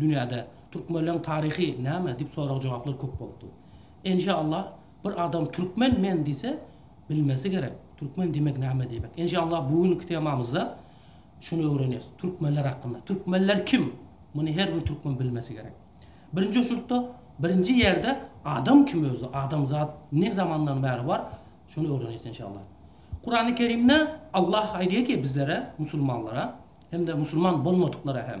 Dünýäde Türkmenleň taryhy näme dip sorag jogaplar köp bolupdyr. Enşa Allah bir adam Türkmen men diýse bilmesi gerek Türkmen diýmek näme diýmek. Enşa Allah bu günki temamyzda şuny öwreneris Türkmenler hakynda. Türkmenler kim? Muny her bir Türkmen bilmesi gerek. Birinji oçurykda birinji ýerde adam kim özi adamzat ne zamandan bäri bar şuny öwreneris enşa Allah. Kurany Kerimde Allah aýdýa ki bizlere musulmanlara hem-de musulman bolmadyklara hem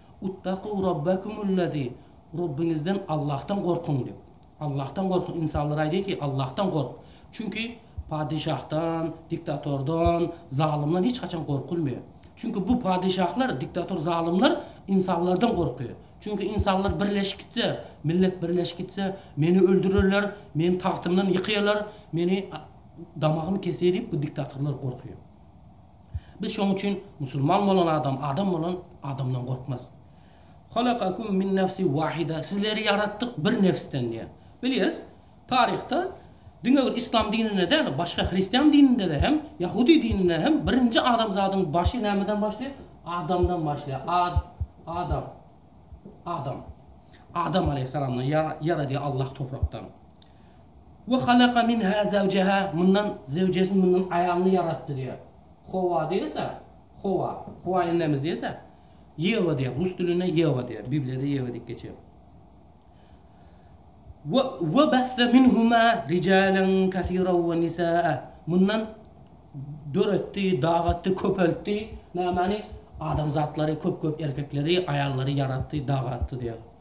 Uttagû Rabbekumul-lezî, Rebbiňizden, Allahdan gorkuň diýip. Allahdan gorkuň. Ynsanlar aýdýar ki, Allahdan gork. Çünki padyşahdan, diktatordan, zalymdan hiç haçan gorkulmaýar. Çünki bu padyşahlar, diktator, zalymlar ynsanlardan gorkýar. Çünki ynsanlar birleşip gitse, millet birleşip gitse, meni öldürerler, meni tagtymdan ýykýarlar, meni damagymy kesýär diýip bu diktatorlar gorkýar. Biz şoň üçin musulman bolan adam adam bolan adamdan gorkmaz. Halakakum min nefsi wahida sizleri ýaratdyk bir nefsden diýýär. Bilýäs, taryhda diňe bir islam dininde däl, başga hristian dininde-de hem, ýahudy dininde hem birinji adamzadyň başy nämeden başlaýar? Adamdan başlaýar. Ad, Adam, Adam. Adam aleýhyssalamdan ýaradýar Allah toprakdan. We halaka minha zawjaha, mundan zewjesini, mundan aýalyny ýaratdy diýýär. Howa diýilse, Howa, Howa enemiz diýilse, Ýewa diýýär, rus dilinde Ýewa diýýär, Bibliýada Ýewa diýip geçýär. We we bassa minhuma rijalan kasiran we nisaa, mundan döretdi, dagatdy, köpeltdi, nämani, adamzatlary, köp-köp erkekleri, aýallary ýaratdy, dagatdy diýýär.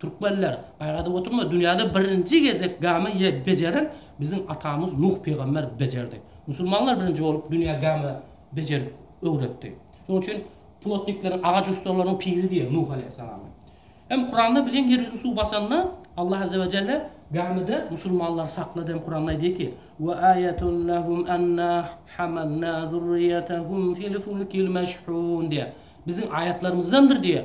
Türkmenler, gaýgadyp oturma, dünýäde birinji gezek gämi ye bejeren biziň atamyz Nuh pygamber bejerdi. Musulmanlar birinji bolup dünýä gämi bejerip öwretdi. Şonuň üçin plotnikleriň, agaç ussalarynyň piri diýer Nuh aleýhissalamy. Hem Kuranda bilin ýer ýüzüni suw basanda Allah azze we jelle gämide musulmanlary saklady hem Kuranda aýdy ki, Ve ayetun lehum enna hamalna zurriyetahum fil fulkil meşhun diýer. Biziň aýatlarymyzdandyr diýer.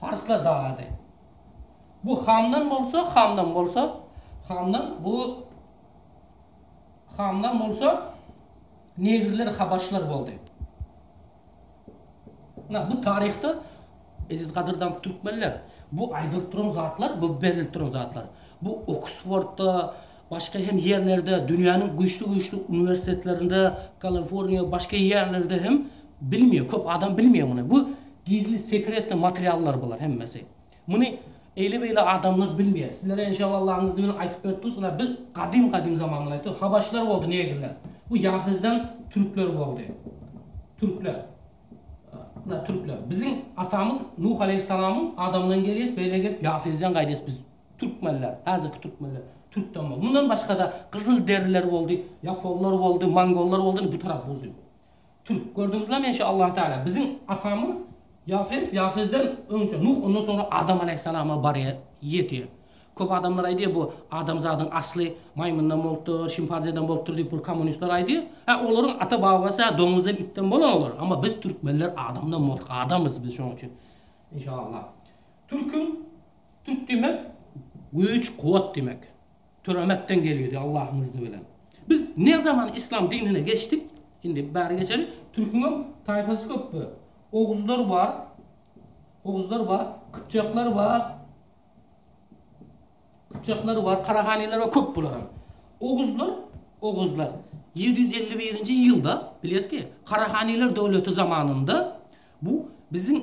Parslar dagady. Bu Hamdan bolsa, Hamdan bolsa, Hamdan bu Hamdan bolsa Negrler, Habaşlar boldy. Na bu taryhda Eziz gadyrdan türkmenler bu aýdylyp duran zatlar, bu berilip duran zatlar. Bu Oksfordda Başga hem ýerlerde, dünýäniň güýçli-güýçli uniwersitetlerinde, Kalanforniýa, başga ýerlerde hem bilmeýär, köp adam bilmeýär muny. Bu gizli, sekretnyý materiallar bular hemmesi. Muny eýle-beýle adamlar bilmeýär. Sizlere enşalla Allaň yzdy bilen aýtyp berip durus, ynha biz gadym-gadym zamandan aýtýarys, habaşlar boldy, negrler. Bu ýahyzdan türkler boldy. Türkler. Ynha türkler. Biziň atamyz Nuh aleýhyssalamyň adamdan gelýäs, beýle gelip ýahyzdan gaýdýas biz. Türkmenler, häzirki türkmenler, türkden boldy. Mundan başga-da gyzylderiler boldy, ýaponlar boldy, mongollar boldy, indi bu tarap ruzy. Türk. Gördüňizmi, men şu Allah Teala, biziň atamyz Ýafes, Ýafesden öňçe Nuh, ondan soňra Adam aleýhissalama barýar, ýetýär. Köp adamlar aýdýar, bu adamzadyň asly maýmyndan bolupdyr, şimpanzeden bolupdyr diýip, bu kommunistler aýdýar. Hä, olaryň ata-babasy-ä doňuzdan, itden bolan olar, emma biz türkmenler adamdan bolduk, adamyz biz şonuň üçin. Inşallah. Türküň. Türk diýmek güýç kuwwat diýmek. Türemekden gelýdi Allahyň yzni bilen. Biz ne zaman islam dinine geçdik indi bari geçeli türküňem taýpasy köp be. Oguzlar bar Oguzlar bar Kypjaklar bar Kypjaklar bar Karahaniler bar köp bularam. Oguzlar Oguzlar ýedi ýüz elli birinji ýylda bilýäsizki Karahaniler döwleti zamanynda bu biziň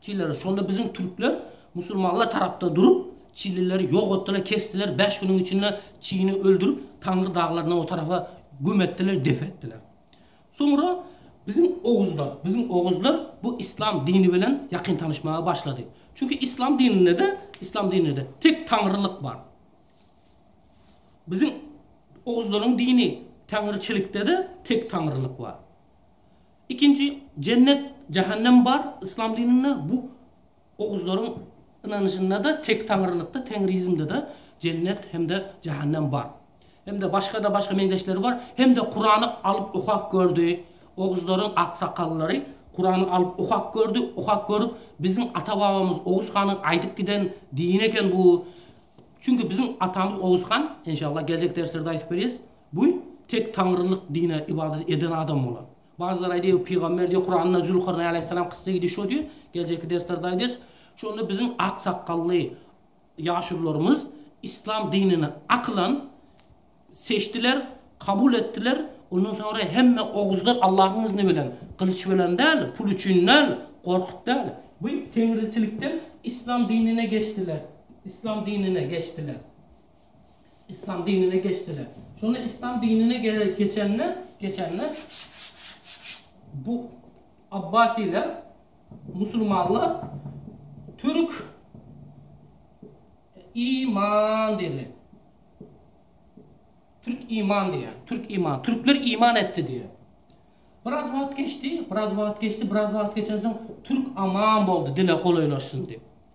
Çilleri, şonda biziň türkler musulmanlar tarapda durup, çilileri ýok etdiler, kesdiler, bäş günüň içinde çini öldürip, Taňry daglaryndan o tarapa güm etdiler, dep etdiler. Soňra biziň oguzlar, biziň oguzlar bu islam dini bilen ýakyn tanyşmaga başlady. Çünki islam dininde-de, islam dininde-de tek Taňrylyk bar. Biziň oguzlaryň dini Taňryçilikde-de tek Taňrylyk bar. Ikinji, jennet, jähennem bar, yslam dininde bu oguzlaryň ynanyşynda-da, tek taňrylykda, teňriizmde-de jennet hem-de jähennem bar. Hem-de başga-da başga meňzeşleri bar. Hem-de Kurany alyp okap gördi, oguzlaryň aksakallary Kurany alyp okap gördi, okap görüp, biziň ata-babamyz Oguz hanyň aýdyp giden dini eken bu. Çünki biziň atamyz Oguz han, enşalla geljek derslerde aýdyp berýäs, Bu tek Taňrylyk dine ybadat eden adam bolan. Bajylar aýdýar, Pygamber diýýär, Kuranda Zülkarneýn alaýhyssalam kyssy gidi şo diýýär, geljekki derslerde aýdys. Şonda biziň ak sakgally ýaşulularymyz yslam dinini akylan seçdiler, kabul etdiler. Ondan soňra hemme oguzlar Allahyň yzni bilen, gylyç bilen däl, pul üçin däl, gorkup däl, bu Teňriçilikden yslam dinine geçdiler, yslam dinine geçdiler. Yslam dinine geçdiler. Şonda Yslam dinine geçende, geçende bu Abbasiler, musulmanlar türk i man diýdi. Türk iman diýýär. Türk iman. Türkler iman etdi diýýär. Biraz wagt geçdi, biraz wagt geçdi, biraz wagt geçensoň türk aman boldy, dile golaýlaşsyn diýip.